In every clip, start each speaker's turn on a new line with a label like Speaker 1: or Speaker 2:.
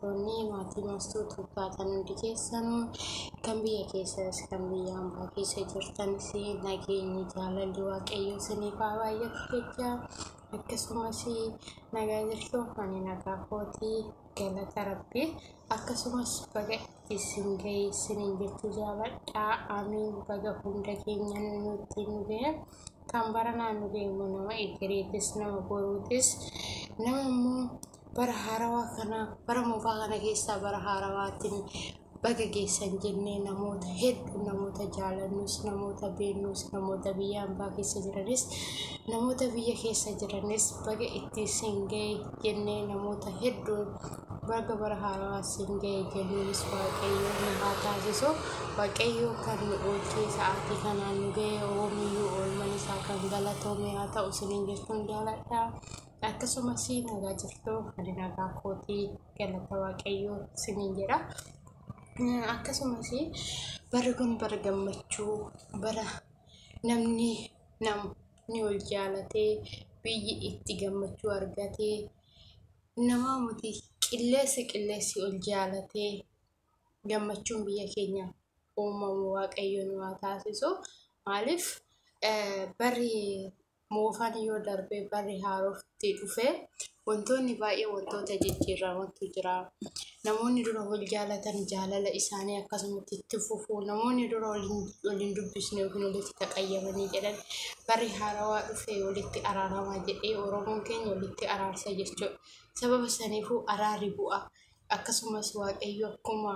Speaker 1: Toonni maatii baastuu taatan hundi keessan kan biyya keessas kan biyya ambaa keessa jirtanis nageenyi jaalalli waaqayyoo isiniif haa baay'atu jecha akkasumas nagaa jirtu ani nagaa kooti galata rabbi akkasumas baga isin ga'e isiniin jechuu jaaladha amiin baga hunda keenya nutti nu ga'e kan bara naannoo deemu nama egereetis nama boruutis nama immoo bara haarawaa kana bara moofaa kana keessaa bara haarawaatiin baga geessan jennee namoota hedduu namoota jaalannus namoota beeknus namoota biyya ambaa keessa jiranis namoota biyya keessa jiranis baga itti isin ga'e jennee namoota hedduu baga bara haarawaa isin ga'e jennuunis waaqayyoo nu haa taasisu waaqayyoo kan nu oolchee sa'aatii kanaan nu ga'e oomiyyuu oolman isaa kan galatoome haa ta'u isiniin jechuun jaaladha. akkasumas nagaa jirtuu ani nagaa kootii galata waaqayyoo siniin jedha akkasumas barri kun bara gammachuu bara namni namni wal jaalatee biyyi itti gammachuu argatee namaa muti qilleessi qilleessi ol jaalatee gammachuun biyya keenya uumamu waaqayyo nu haa taasisu maaliif barri Moofaan yoo darbee barri haarofti dhufe wantoonni baay'ee wantoota jijjiiramantu jira. Namoonni dura wal jaalatan jaalala isaanii akkasumatti itti fufu. Namoonni dura waliin dubbisne yookiin walitti taqayyamanii jedhan barri haarawaa dhufe walitti araaramaa jedhee Oromoon keenya walitti araarsa jechuudha. Sababa saniifuu araarri bu'a. Akkasumas Waaqayyo akkuma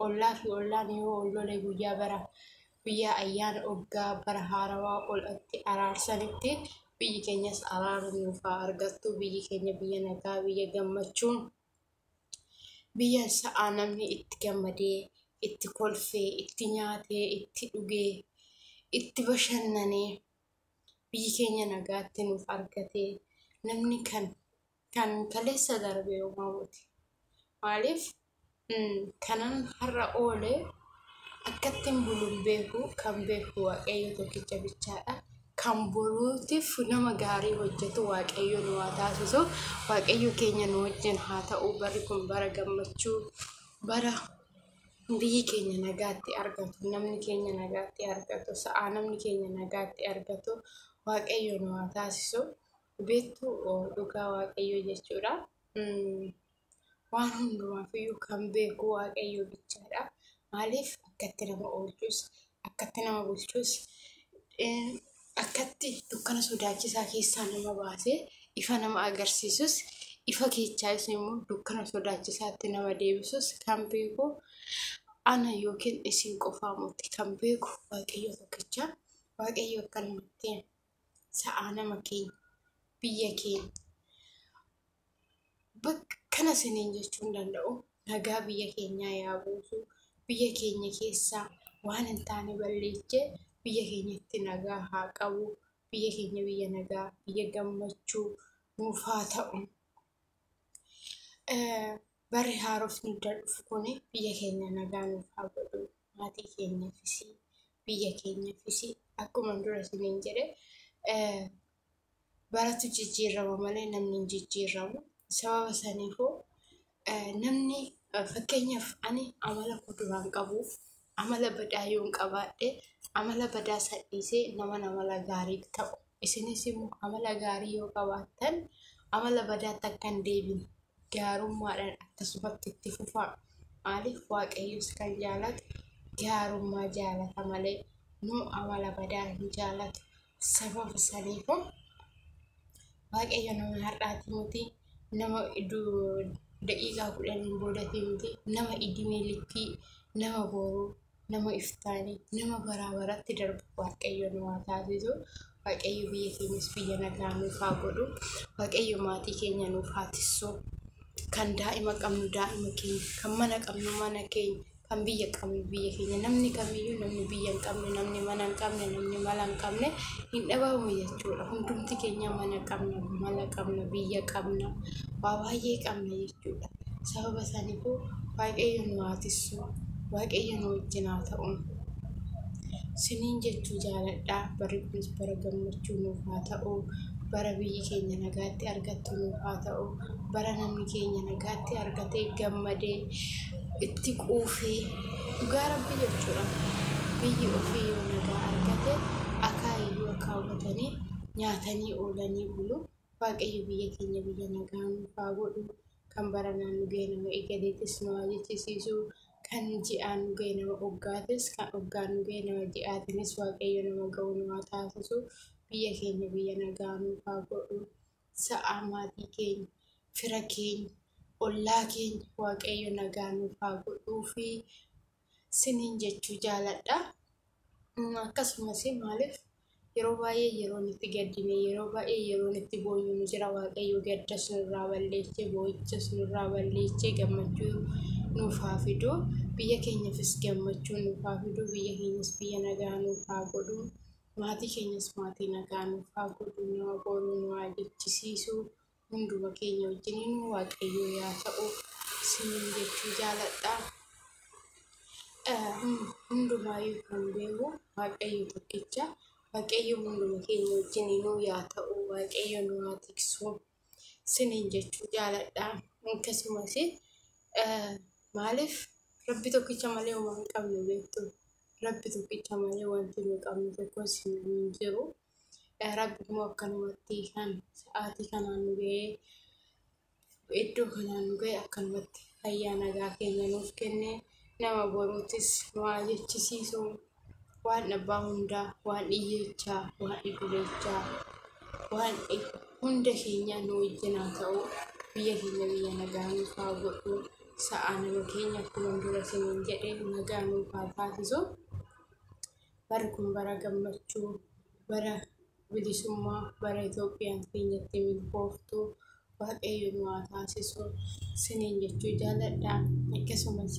Speaker 1: Ollaa fi ollaan yoo ol lole guyyaa bara guyyaa ayyaana oggaa bara haarawaa ol itti araarsanitti biyyi keenyas araara nuuf haa argattu biyyi keenya biyya nagaa biyya gammachuun biyya sa'aa namni itti gammadee itti kolfee itti nyaatee itti dhugee itti bashannanee biyyi keenya nagaatti nuuf argatee namni kan Kan kaleessa darbe yooma buti. Maaliif kanan har'a oole akkattiin buluun beeku kan beeku waaqayyo tokkicha bichaadha. Kan boruutiif nama gaarii hojjetu waaqayyo nu haa taasisu. Waaqayyo keenya nu wajjin haa ta'u barri kun bara gammachuu bara biyyi keenya nagaatti argatu namni keenya nagaatti argatu sa'a namni keenya nagaatti argatu waaqayyo nu haa taasisu. beektu dhugaa waaqayyoo jechuudha. Waan hundumaafiyyuu kan beeku waaqayyoo bichaadha. Maaliif akkatti nama oolchus, akkatti nama bulchus, akkatti dukkana sodaachisaa keessaa nama baasee ifa nama agarsiisus, ifa keechaayis immoo dukkana sodaachisaatti nama deebisus kan beeku ana yookiin isin qofaa miti kan beeku waaqayyoo tokkicha. Waaqayyoo akkanumatti sa'aa nama keenya biyya keenya bakka kana siniin jechuun danda'u nagaa biyya keenyaa yaa buusu biyya keenya keessaa waan hin taane balleesse biyya keenyatti nagaa haa qabu biyya keenya biyya nagaa biyya gammachuu nuuf haa ta'u. Barri haarofni erga dhufu kuni biyya keenya nagaa nuuf haa godhu. Maatii keenyafis, biyya keenyafis akkuman dura isiniin jedhe baratu jijjiirrama malee namni hin jijjiirramu. Sababa saniifuu namni fakkeenyaaf ani amala koo duraan qabu. Amala badaa yoon qabaadhe amala badaa san dhiisee naman amala gaarii ta'u. Isinis immoo amala gaarii yoo qabaattan amala badaatti akka hin deebine gaarummaadhaan akkasumatti itti fufaa. Maaliif waaqayyos kan jaalatu gaarummaa jaalata malee nu amala badaa hin jaalatu. sababa saniifu waaqayyo nama har'aati miti nama daqiiqaa kudhaniin boodati miti nama idimee likkii nama booruu nama iftaanii nama baraa baratti darbu waaqayyo nu haa taasisu waaqayyo biyya keenyas biyya nagaa nuuf haa godhu waaqayyo maatii keenya nuuf haa tissu kan daa'ima qabnu daa'ima keenya kan mana qabnu mana keenya kan biyya qabnu biyya keenya namni kamiyyuu namni biyya hin qabne namni mana hin qabne namni mala hin qabne hin dhabamu jechuudha hundumti keenya mana qabna mala qabna biyya qabna waa baay'ee qabna jechuudha sababa isaaniifuu waaqayyo nu haa tissu waaqayyo nu wajjin haa ta'u siniin jechuu jaaladhaa barri kunis bara gammachuu nuuf haa ta'u bara biyyi keenya nagaatti argattu nuuf haa ta'u bara namni keenya nagaatti argatee gammadee itti quufee dhugaa rabbi jechuudha biyyi ofii yoo nagaa argate akaayii yoo kaawwatanii nyaatanii oolanii bulu waaqayyo biyya keenya biyya nagaa nuuf haa godhu kan bara naannoo ga'e nama eegaleetis nu haa jechisiisu kan ji'aan nu ga'e nama oggaatis kan oggaan nu ga'e nama ji'aatinis waaqayyo nama ga'u nu haa taasisu biyya keenya biyya nagaa nuuf haa godhu sa'aa maatii keenya, fira keenya, ollaa keenya Waaqayyo nagaa nuuf haa godhuu fi siniin jechuu jaaladha. Mm, Akkasumas maaliif yeroo baay'ee yeroon itti gaddine, yeroo baay'ee yeroon itti boonyu ni jira. Waaqayyo gaddas nurraa balleessee, boo'ichas nurraa balleessee gammachuu nuuf haa fidu. Biyya keenyafis gammachuu nuuf haa fidu. Biyya keenyas biyya nagaa nuuf haa godhu. Maatii keenyas maatii nagaa nuuf haa godhu, nama boru nu haa jechisiisu, hunduma keenya wajjiniin waaqayyoo yaa ta'u isiniin jechuu jaaladha. Hundumaayyuu kan beeku waaqayyo tokkicha, waaqayyo hunduma keenya wajjiniinuu yaa ta'u, waaqayyo nu haa tiksu. siniin jechuu jaaladha akkasumas maaliif rabbi tokkicha malee homaa hin qabnu beektu rabbi tokkicha malee wanti nu qabnu tokkos hin jiru rabbi immoo akkanumatti kan sa'aatii kanaan nu ga'ee iddoo kanaan nu ga'e akkanumatti fayyaa nagaa keenya nuuf kenne nama boruutis nu haa jechisiisu Waan abbaa hundaa, waan dhiyyechaa, waan dhidhulechaa, waan hunda keenya nu wajjin haa ta'u. Biyya keenya biyya nagaa nuuf haa godhu. Sa'a nama keenya akkuma dura siniin jedhe nagaa nuuf haa taasisu. Bara kun bara gammachuu, bara bilisummaa bara Itoophiyaan teenyatti milkooftu waaqayyo nu haa taasisu siniin jechuu jaaladha. Akkasumas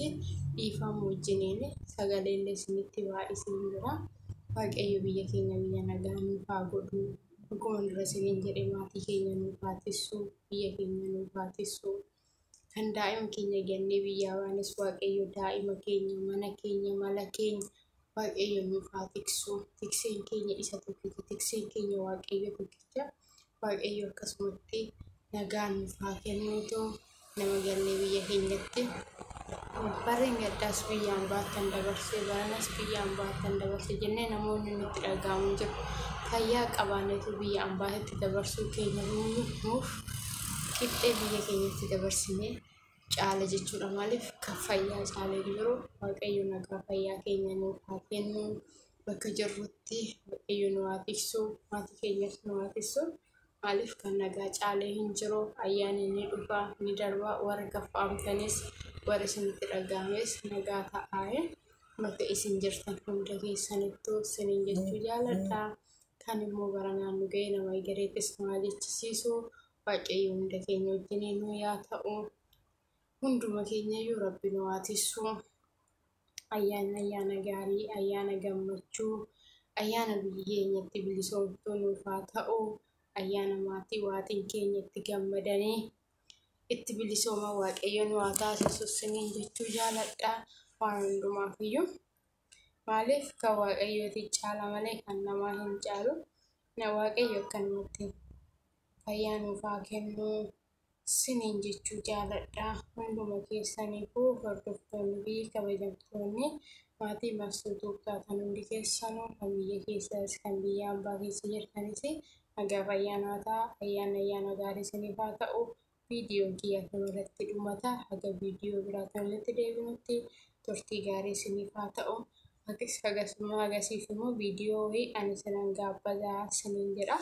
Speaker 1: dhiifama wajjiniin sagalee illee isinitti baay'isee jira. Waaqayyo biyya keenya biyya nagaa nuuf haa godhu. Akkuma dura isiniin jedhe maatii keenya nuuf haa tissu, biyya keenya nuuf haa tissu. kan daa'ima keenya jennee biyyaa baanes waaqayyo daa'ima keenya mana keenya mala keenya waaqayyo nuuf haa tiksu tikseen keenya isa tokkicha tikseen keenya waaqayyo tokkicha waaqayyo akkasumatti nagaa nuuf haa kennuutu nama jennee biyya keenyatti Barri gaddaas biyyaan baattan dabarse, baranas biyyaan baattan dabarse jennee namoonni nutti dhaga'amu jiru. Fayyaa qabaannetu biyya ambaatti dabarsuu keenya nuuf qixxee biyya keenyatti dabarsine caala jechuudha. Maaliif kan fayyaa caalee jiru waaqayyo nagaa fayyaa keenya nuuf haa kennu. Bakka jirrutti waaqayyo nu haa tiksu, maatii keenyas nu haa tiksu. Maaliif kan nagaa caale hin jiru. Ayyaanni ni dhufa, ni darba, warri gaffaamtanis, warri isinitti dhaga'ames nagaa ta'aaye bakka isin jirtan hunda keessanittu sinin jechuu jaaladha. Kan immoo bara naannu ga'ee nama egereetis nu haa jechisiisu. Waaqayyo hunda keenya wajjinii nu yaa ta'u. Hunduma keenya iyyuu rabbi nu haa tissu. ayyaanni ayyaana gaarii ayyaana gammachuu ayyaana biyyi keenya itti bilisoomtuu nuuf haa ta'u ayyaana maatii waatiin keenya itti gammadanii itti bilisooma waaqayyo nu haa taasisu isiniin jechuu jaaladha waan hundumaaf iyyuu maaliif kan waaqayyooti caala malee kan namaa hin caalu na waaqayyo akkanumatti fayyaa nuuf haa kennuu sinin jechuu jaaladha hunduma keessaniifuu hordoftoonni fi kabajamtoonni maatii marsuu tuubtaa kan hundi keessanuu kan biyya keessas kan biyya ambaa keessa jirtanis nagaaf ayyaanaa ta'a ayyaan ayyaana gaarii siniif haa ta'u viidiyoon kiyya kana irratti dhumata haga viidiyoo biraa kanatti deebinutti turtii gaarii siniif haa ta'u akis hagasuma agasiif immoo viidiyoo wayii ani sinan gaabbadaa sinin jedha.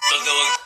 Speaker 1: Baga waggaa